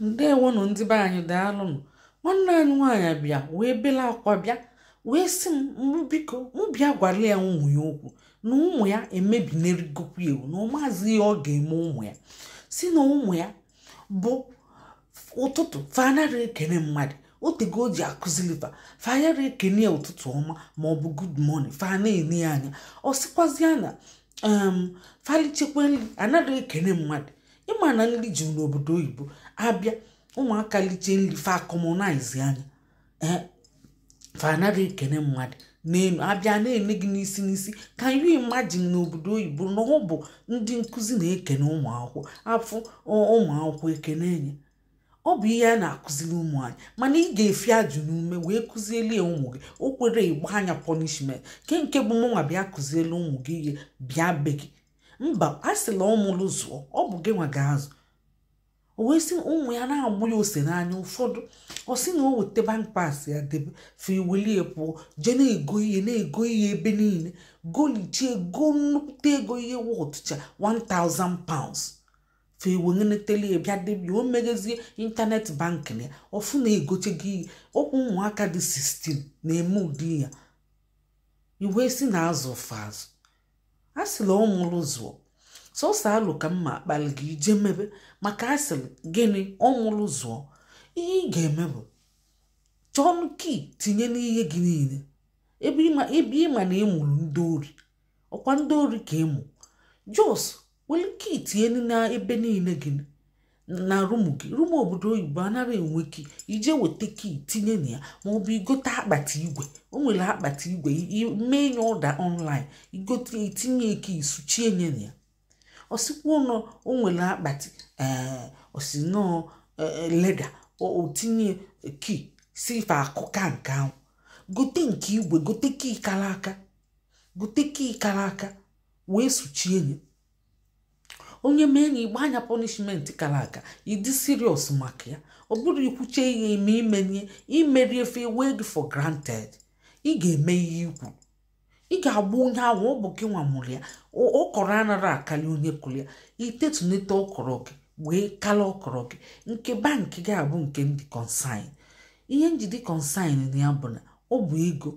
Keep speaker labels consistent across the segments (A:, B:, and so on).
A: ndewonụ ndị be anyị daalụnụ nwanne anyị nwaanyị bịa wee bela akwa bịa wee sị m mụ biko mụ bịa gwara ya ụmụ ya okwu na ụmụ ya emebinerigokwu ewu na ọ maazị ihe ọ ga-eme ụmụ ya sị na ụmụ ya bụ ụtụtụ fa anara ekene mmadụ otego o ji akụzili fa fa yara ekene ya ụtụtụ ọma ma ọ bụ good morning fa na-ene ya anya ọ sịkwazịa na um fa lichekwa nri anaghị ekene mmadụ ị ma na nri juru n'obodo oyibo a bịa ụmụaka liche nri fa commonize anya ee fa anaghị ekene mmadụ n'elu a bịa na-ene gị n'isi n'isi can you imagine n'obodo oyibo na ọ bụ ndị nkụzi na-ekene ụmụ akwụkwọ a fụ ụmụ akwụkwọ ekene enye ọ bụ ihe a na-akụziri ụmụ anyị mana ị ga-efi ajụ n'ume wee kụzieli ụmụ gị o kwerọ ị gbanye ya punishment kee nke bụ mụnwa bịa kụzieli ụmụ gị ihe bịa be gị mba a sịlị ọ mụlụ zụọ ọ bụ gị nwa ga-azụ o wee sị ụmụ ya na-agbụ ya ose n'anya ụfọdụ ọ sị na o weta bank pass ya debe fa ewelie pụọ jee na-ego ihe na-ego ihe ebe niile golichie ego nnukwute ego ihe wọtụcha 1000 pounds fa eweghenetele bịa debie o meghezie internet banking ya ọ fụ na e gochego ihe ọkwa ụmụaka dị 16 na-eme ụdị ya i wee sị na a zụ fa azụ a sịlị ọ mụrụ zụọ sọsọ alụ ka mma akpali gị i jee mebe maka a sịrị gịnị ọ mụrụ zụọ ihe ị ga-eme bụ chọọ key tinye n'ihe gị niile ebe ị ma na ị mụrụ ndị ori ọkwa ndị ori ka ị mụ just were key tinye na ebe niile gị na room gị room obodo oyibo anaghị enwe key i jee weta key tinye na ya ma ọ bụ i gote akpati igwe o nwere akpati igwe mee nye order online i gote i tinye key suchie nye na ya ọ sịkwanụ o nwere akpati ee ọ sị na ọ leather o tinye key sị fa akụka nke ahụ gote nke igwe gote key kara aka bute key kara aka wee suchie ya onye mee nya ị gbanye ya punishment kara aka ị dị serious maka ya ọ bụrụ i kwuche ihe i me i menye i merọ ya fa ewee gị for granted ị ga-eme ihe i kwuru ị ga-agwa onye ahụ ọ bụ gị nwa mụrụ ya ọkọrọ anara akarị onye kụrụ ya i tetunete ọkọrọ gị wee kala ọkọrọ gị nke bank ga-abụ nke m dị concerned ihe m ji dị concerned na ya bụ na ọ bụ ego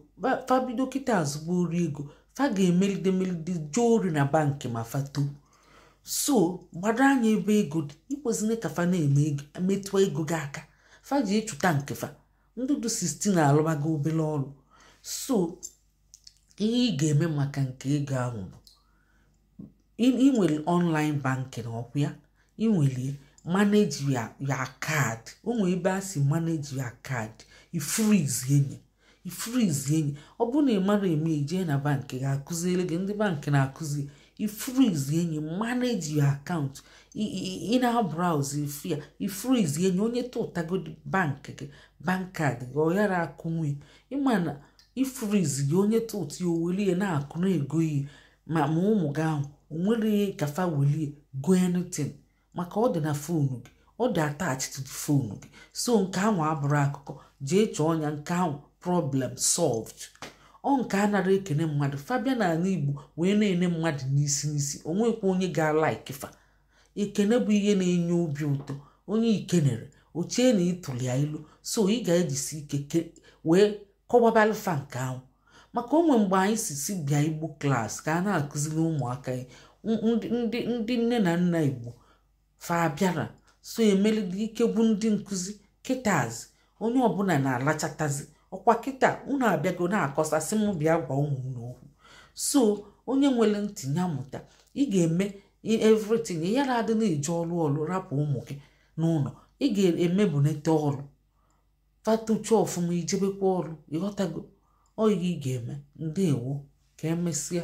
A: fa bido kịta zube ori ego fa ga-emelide melide jee ori na bank ma fa too so gbado anya ebe ego dị ekwezina ka fa na-eme metụọ ego gị aka fa jee chụta nke fa ndị dụ 16 alụbago obere ọrụ so ihe ị ga-eme maka nke ego ahụ bụ ị nwere online banking ọkwa ya ị nwere manage your card o nwere ebe a sị manage your card ị freeze nye ị freeze nye ọ bụrụ na ị mara eme i jee na bank a ga-akụziri gị ndị bank na-akụzi ị freeze nye manage your account ị na-browse ife ya ị freeze nye onye tụtagodi bank gị bank card gị ọ yara akụnwe mana ị freezeghị onye tụtụ ya o welie na-akụ na-ego ihe ma ma ụmụ gị ahụ o nwere ka fa welie go anything maka ọ dị na phone gị ọ dị attached to phone gị so nke ahụ abụrụ akụkọ jee chọọ ọnya nke ahụ problem solved ọ nke a nara ekene mmadụ fa bịa na ala igbo wee na-ene mmadụ n'isi n'isi o nwekwa onye ga-alike fa ekene bụ ihe na-enye obi ụtọ onye i kenere o chee na ịtụli ya ilo so ị ga-ejisi ike wee kọwabalụ fa nke ahụ maka o nwe mgbe anyị si si bịa igbo class ka a na-akụziri ụmụaka ndị ndị nne na nna igbo fa bịara so e melide ike gwụ ndị nkụzi kịtazi onye ọbụla na-alachatazi ọkwa kịta unu abịago na-akọsa sị m bịa gwa ụmụ unu okwu so onye nwere ntị ya mụta ị ga-eme everything ị yara adị na-eji ọrụ ọrụ rapụ ụmụ gị n'ụlọ ị ga-eme bunete ọrụ fa tochaa ọfụma i jebekwa ọrụ ịghọtago ọ ihe ị ga-eme ndewo ka emesịa